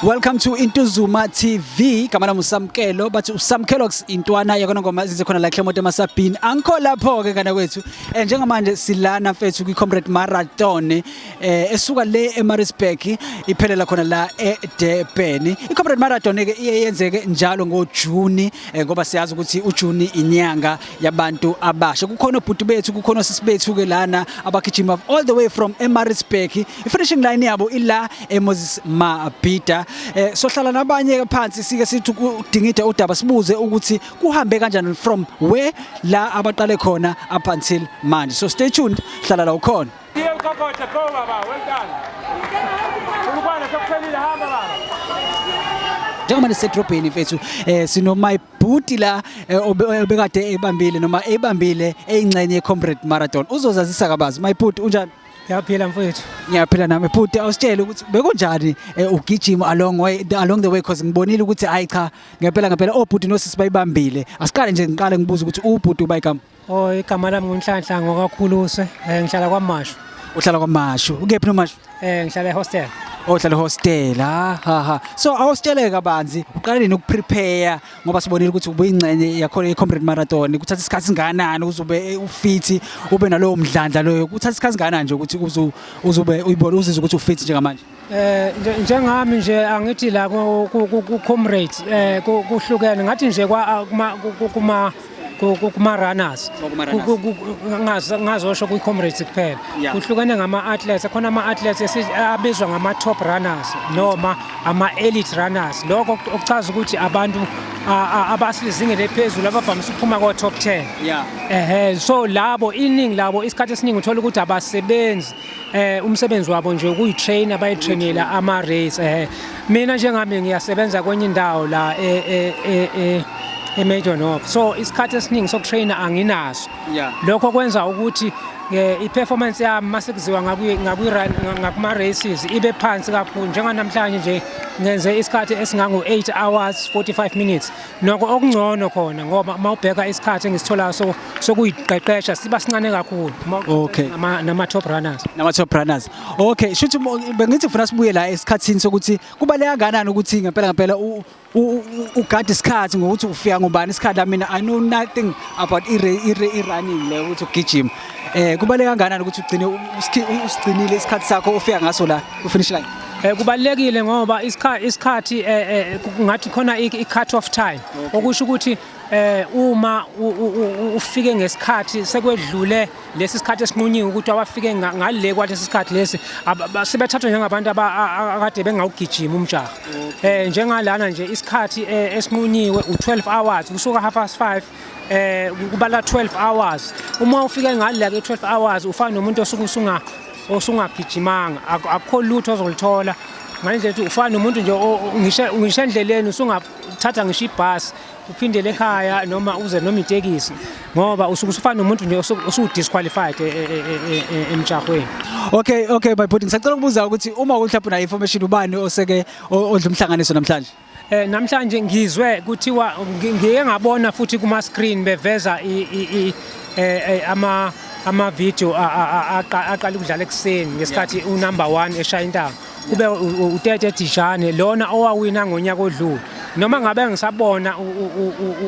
Welcome to Intuzuma TV. Igama lami uSamkelo bathi uSamkelo intwana yekona ngoma izinze khona la Clement emasabhini. Angikho lapho ke kana kwethu. Eh njengamanje silana mfethu kwi Comrade Marathon eh esuka le eMaritzburg iphelela khona la eDurban iComrade Marathon ke iye yenzeke njalo ngoJuni eh, ngoba siyazi ukuthi uJuni inyanga yabantu abasha kukhona obhuti bethu kukhona sisi bethu ke lana abagijima all the way from eMaritzburg ifinishing line yabo ila eMoses Mabhida eh, sohlala nabanye ke phansi sike sithi udingida udaba sibuze ukuthi kuhambe kanjani from where la abaqale khona up until manje so stay tuned hlala la ukhona Deal kokote go baba, well done. Ulukwana sokuphelile hamba baba. njengoba nisedrobheni mfethu eh sino my booty la eh, obe- obekade ebambile noma ebambile eyingxenye ye-comrade marathon uzozazisa kabazi my booty unjani Ngiyaphila mfowethu. ngiyaphila nami bhuti awusitshele ukuthi bekunjani eh, ugijima along way the- along the way cause ngibonile ukuthi hayi cha ngempela ngempela obhuti nosisi bayibambile asiqale nje ngiqale ngibuze ukuthi ubhuti ubayigama Oh igama lami nguNhlanhla ngokakhuluse eh ngihlala kwaMashu. Uhlala kwaMashu. Ukephi noMashu? Eh ngihlala ehostel. Oh uhlala ehostel. Ha ha ha. So awusitshele kabanzi uqala nini ukuprepare ngoba sibonile ukuthi ubuyingcenye yakho iComrade Marathon. Kuthatha isikhathi singanani uzube ufit ube nalowo mdlandla loyo. Kuthatha isikhathi singanani nje ukuthi uzu uzube uyibona uzizwe ukuthi ufit njengamanje. Eh njengami nje angithi la ku comrade eh kuhlukene ngathi nje kwa kuma kuma runners ngazosho kwi comrades kuphela kuhlukene ngama athletes khona ama athletes abizwa ngama top runners noma ama elite runners lokho okuchaza ukuthi abantu abasizingeni lephezulu abavamise ukuphuma ko top 10 yeah ehe so labo iningi labo isikhathi esiningi uthola ukuthi abasebenzi eh umsebenzi wabo nje ukuyitrainer bayitrainela ama race eh mina njengami ngiyasebenza kwenye indawo la e e e, e eMajor North so isikhathi esiningi sokutrainer anginaso lokho kwenza ukuthi eh, i-performance yami mase kuziwa ngakuma races ibe phansi kakhulu njenganamhlanje nje ngenze isikhathi esingango 8 hours 45 minutes Noko okungcono khona ngoba uma ubheka isikhathi engisitholayo so sokuyiqeqesha siba sincane kakhulu. Uma- Okay. Nama nama top runners. Nama top runners. Okay, shuthi mo- bengithi ngifuna sibuye la esikhathini sokuthi kubaleka kanani ukuthi ngempela ngempela u- u- u- ugade isikhathi ngokuthi ufika ngubani isikhathi la mina I know nothing about i i running le ukuthi ugijima. Eh kubaleka kanani ukuthi ugcine u- usikhi- u- usigcinile isikhathi sakho ofika ngaso la ku finish line. Eh, kubalulekile ngoba isikhathi eh, eh, ngathi khona i-cut off time okusho ukuthi uma ufike ngesikhathi sekwedlule lesi sikhathi esinqunyiwe ukuthi abafike ngale kwalesi sikhathi lesi sebethathwa njengabantu akade bengawugijima umjaha um njengalana nje isikhathi esinqunyiwe u-12 hours kusuka half past five um kubala 12 hours uma ufike ngale ke 12 hours ufana nomuntu osuke usunga osungagijimanga akukho lutho ozolithola ngalendlela ukuthi ufana nomuntu nje ngisho endleleni usungathatha ngisho ibhasi uphindele ekhaya noma uze noma itekisi ngoba usuke usufana nomuntu nje osuwudisqualified e, e, e, emjahweni okay okay my body ngisacela ukubuza ukuthi uma uhlapha na information ubani oseke odla umhlanganiso namhlanje Eh namhlanje ngizwe kuthiwa ngike ngabona futhi kuma screen beveza eh, eh, ama ama video aqala ukudlala ekuseni ngesikhathi u number 1 eshaya intaba kube utete Dijane lona owawina ngonyaka odlule noma ngabe ngisabona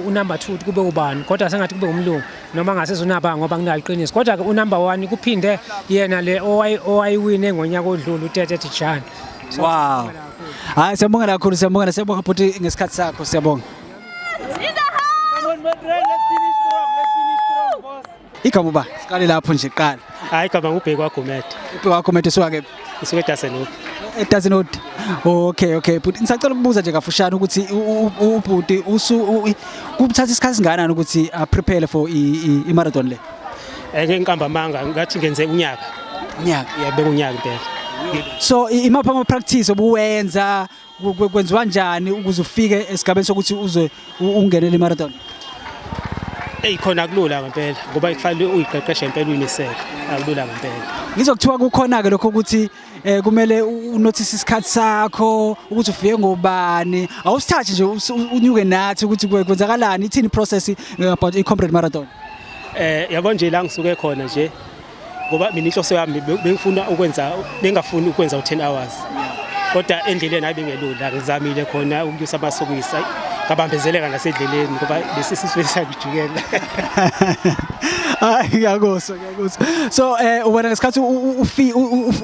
unumber 2 kube ubani kodwa sengathi kube umlungu noma ngase zonaba ngoba nginaliqiniso kodwa ke unumber 1 kuphinde yena le owayiwine ngonyaka odlule utete Dijane wow Hayi siyabonga kakhulu siyabonga siyabonga bhuti ngesikhathi sakho siyabonga. Igama uba siqale lapho nje qala. Hayi igama ngubheki waGomede. Ubheki waGomede usuka ke usuka eDasenhood. eDasenhood. Okay okay bhuti ngisacela ukubuza nje kafushane ukuthi ubhuti usu kuthatha isikhathi singakanani ukuthi a prepare for i marathon le. Ake ngiqamba amanga ngathi ngenze unyaka. Unyaka. Yabeka unyaka impela. So imapha ama practice obuwenza kwenziwa njani ukuze ufike esigabeni sokuthi uze ungenele imarathon? Ey khona kulula ngempela ngoba ifanele uyiqeqeshe ngempela uyinisele. Akulula ngempela. Ngizokuthiwa kukhona ke lokho ukuthi eh kumele unothise isikhathi sakho ukuthi ufike ngobani awusithathi nje unyuke nathi ukuthi kwenzakalani ithini process eh, about i-comrade marathon eh yabo nje la ngisuke khona nje ngoba mina inhloso yami bengifuna ukwenza bengafuni ukwenza u10 hours kodwa endleleni hayi bengelula ngizamile khona ukunyusa amasokisi ngabambezeleka nasedleleni ngoba lesi sisifisa kujikela hayi ngiyakoso so eh wena ngesikhathi ufi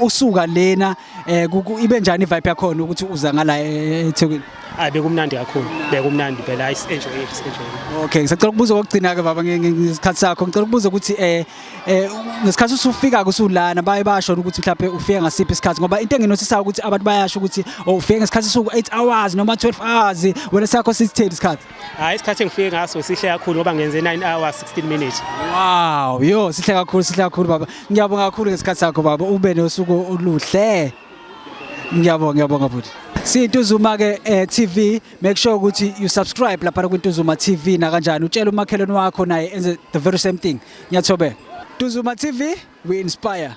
usuka lena eh ibe njani vibe yakhona ukuthi uza ngala eh, eThekwini hayi bekumnandi kakhulu bekumnandi phela i enjoy it enjoy okay ngisacela ukubuza kokugcina ke baba ngesikhathi sakho ngicela ukubuza ukuthi eh, eh ngesikhathi usufika kusulana baye basho ukuthi mhlawumbe ufike ngasiphi isikhathi ngoba into enginosisayo ukuthi abantu bayasho ukuthi oh, ufike ngesikhathi suku 8 hours noma 12 hours wena sakho sisitheli isikhathi Hayi isikhathi engifike ngaso sihle kakhulu ngoba ngenze 9 hours 16 minutes. Wow, yo sihle kakhulu sihle kakhulu baba. Ngiyabonga kakhulu ngesikhathi sakho baba. Ube nosuku oluhle. Ngiyabonga ngiyabonga futhi. Siyintuzuma ke eh, TV make sure ukuthi you subscribe lapha kuntuzuma TV na kanjani utshela umakhelwane wakho naye enze the very same thing. Ngiyathobe. Tuzuma TV we inspire.